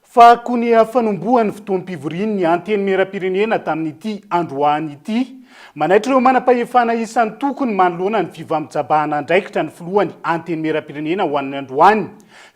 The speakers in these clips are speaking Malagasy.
Fako ny fanombohan'ny fotoam-pivorian'ny Antenimierampirenena tamin'ity androany ity. Manaitra ireo manam-pahefana isan-tokony manoloana ny fivamitsabahana andraikitra ny filohan'ny Antenimierampirenena ho an'ny androany.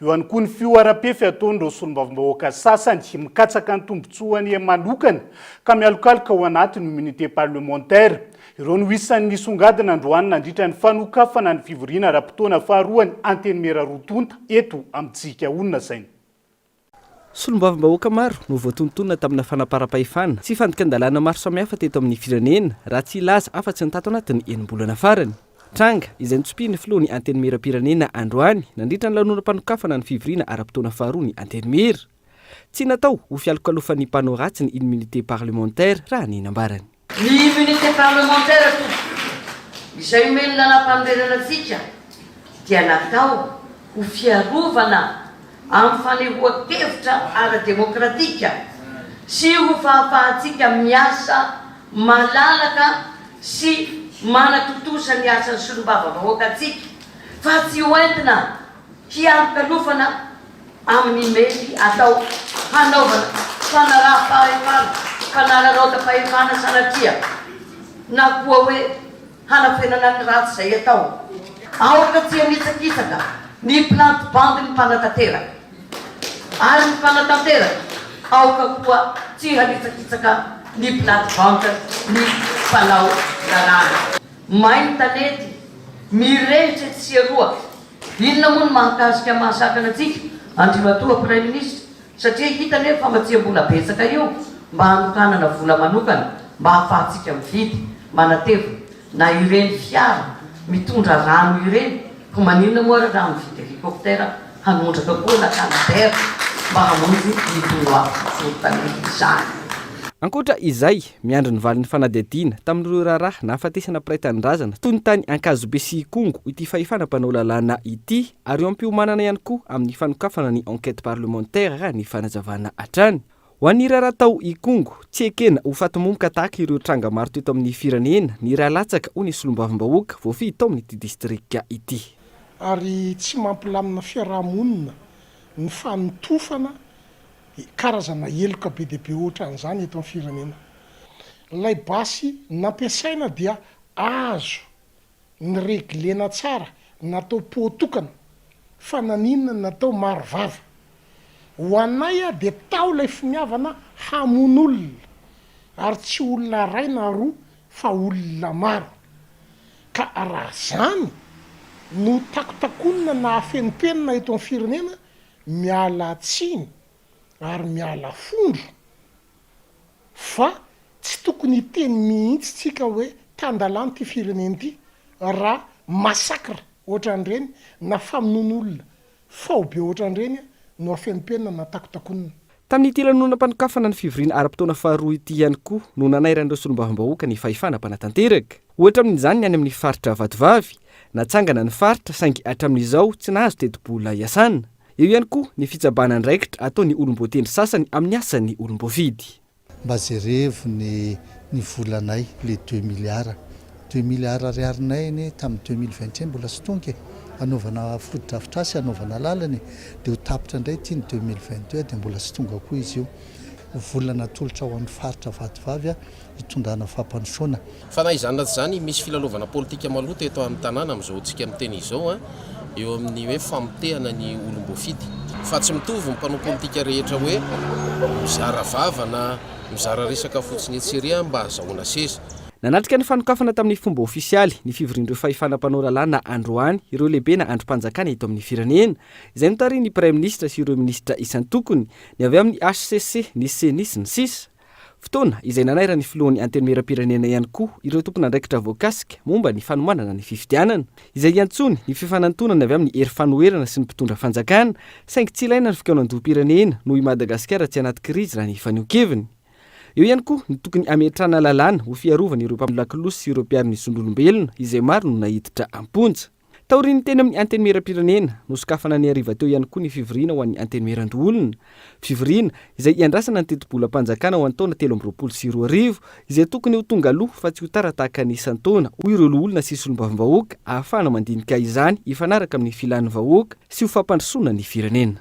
Eo ihany koa ny fihoaram-pefy ataon'ireo solombavambahoaka sasany mikatsaka ny tombontsoany manokana ka mialokaloka ao anatin'ny immunité parlementaire. Ireo no isan'ny nisongadina androany nandritra ny fanokafana ny fivoriana ara-potoana faharoan'ny Antenimiera roa tonta eto amintsika. Onilazaina. Solombavambahoaka maro no voatontonina tamina fanaparam-pahefana sy fandikan-dalàna maro samihafa teto amin'ny firenena, raha tsy hilaza afa-tsy ny tato anatin'ny enim-bolana farany. Tranga izay notsipihiny filoha ny Antenimieram-pirenena androany nandritra ny lanonam-panokafana ny fivoriana ara-potoana faharoa ny Antenimiera. Tsy natao ho fialokalofan'ny mpanao ratsy ny immunité parlementaire raha ny nambarany. Ny immunité parlementaire tompoko, izay omen'ny lalàmpanorenana antsika dia natao ho fiarovana amin'ny fanehoan-kevitra ara-demokratika sy ho fahafahantsika miasa malalaka sy manatontosa ny asan'ny solombavambahoaka antsika fa tsy ho entina hialokalofana amin'ny mety atao hanaovana fanaraham-pahefana, fanararaotam-pahefana sanatria na koa hoe hanafenana ny ratsy izay atao. Aoka tsy hanitsakitsaka ny plates-bandes ny mpanatanteraka, ary ny mpanatanteraka aoka koa tsy hanitsakitsaka ny plates-bandes ny mpanao lalàna. May ny tanety, mirehitra etsy sy eroa Inona moa no mahakasika ny mahasakana antsika Andriamatoa Praiminisitra satria hita anie fa matsiambola betsaka io mba hanokanana vola manokana mba hahafahantsika mividy manatevina na ireny fiara mitondra rano ireny ko maninona moa ary raha mividy hélicoptère hanondraka koa na canadair mba hamonjy ny tonoafo forontan'ila izany. Ankoatra izay, Miandry ny valin'ny fanadihadiana tamin'ireo raharaha nahafatesana mpiray tanindrazana toy ny tany Ankazobe sy Ikongo ity fahefana mpanao lalàna ity ary eo am-piomanana ihany koa amin'ny fanokafana ny enquête parlementaire raha ny fanazavana hatrany. Ho an'ny raharaha tao Ikongo, tsy ekena ho fatimomoka tahaka ireo tranga maro teto amin'ny firenena ny ra latsaka hoy ny solombavambahoaka voafidy tao amin'ity distrika ity. Ary tsy mampilamina fiarahamonina ny fanotofana karazana heloka be dia be ohatran'izany eto amin'ny firenena. Ilay basy nampiasaina dia azo ni-reglena tsara, natao pot tokana, fa naninona natao maro vava? Ho anay dia tao ilay finiavana hamono olona, ary tsy olona iray na roa fa olona maro. Ka raha izany no takotakonina na afenimpenina eto amin'ny firenena miala tsiny ary miala fondro fa tsy tokony hiteny mihitsy tsika hoe tan-dalàna ity firenena ity raha massacre ohatran'ireny na famonoana olona faobe ohatran'ireny no afenimpenina na takotakonina. Tamin'ity lanonam-panokafana ny fivoriana ara-potoana faharoa ity ihany koa no nanairan'ireo solombavambahoaka ny fahefana mpanatanteraka. Ohatra amin'izany ny any amin'ny faritra Vatovavy. Natsangana ny faritra saingy hatramin'izao tsy nahazo tetibola hiasana. Eo ihany koa ny fitsabana andraikitra ataon'ny olom-boatendry sasany amin'ny asan'ny olom-boafidy. Mba jerevo ny ny volanay le deux milliards Deux milliards ariarinay anie tamin'ny deux mille vingt et un mbola tsy tonga e! hanaovana fotodrafitrasa hanaovana lalana e! dia ho tapitra indray ity ny deux mille vingt deux dia mbola tsy tonga koa izy io! ho vola natolotra ho an'ny faritra vatovavy hitondrana fampandrosoana. Fa na izany na tsy izany misy filalaovana politika maloto eto amin'ny tanàna amin'izao tsika miteny izao an! eo amin'ny hoe famotehana ny olom-boafidy! fa tsy mitovy ny mpanao politika rehetra hoe mizara vava na mizara resaka fotsiny etsy sy ery an! mba azahoana seza! Nanatrika ny fanokafana tamin'ny fomba ofisialy ny fivorian'ireo fahefana mpanao lalàna androany ireo lehibe na andrim-panjakana eto amin'ny firenena, izay notarihin'ny Praiminisitra sy ireo minisitra isan-tokony, ny avy amin'ny hcc, ny Ceni sy ny sisa Fotoana izay nanairan'ny Filohan'ny Antenimierampirenena ihany koa ireo tompon'andraikitra voakasika momba ny fanomanana ny fifidianana, izay hiantsoany ny fifanantonana avy amin'ny hery fanoherana sy ny mpitondra fanjakana, saingy tsy ilaina ny fikaonandoham-pirenena noho i Madagasikara tsy anaty krizy raha ny fanehoan-keviny. Eo ihany koa ny tokony hametrahana lalàna ho fiarovana ireo mpamolak'losy sy ireo mpiaro ny zon'olombelona izay maro no naiditra am-ponja. Taorian'ny teny amin'ny Antenimierampirenena, nosokafana ny hariva teo ihany koa ny fivoriana ho an'ny Antenimierandoholona. Fivoriana izay hiandrasana ny tetibolam-panjakana ho an'ny taona telo amby roapolo sy roa arivo izay tokony ho tonga aloha fa tsy ho tara tahaka ny isan-taona hoy ireo loholona sy solombavambahoaka ahafahana mandinika izany hifanaraka amin'ny filan'ny vahoaka sy ho fampandrosoana ny firenena.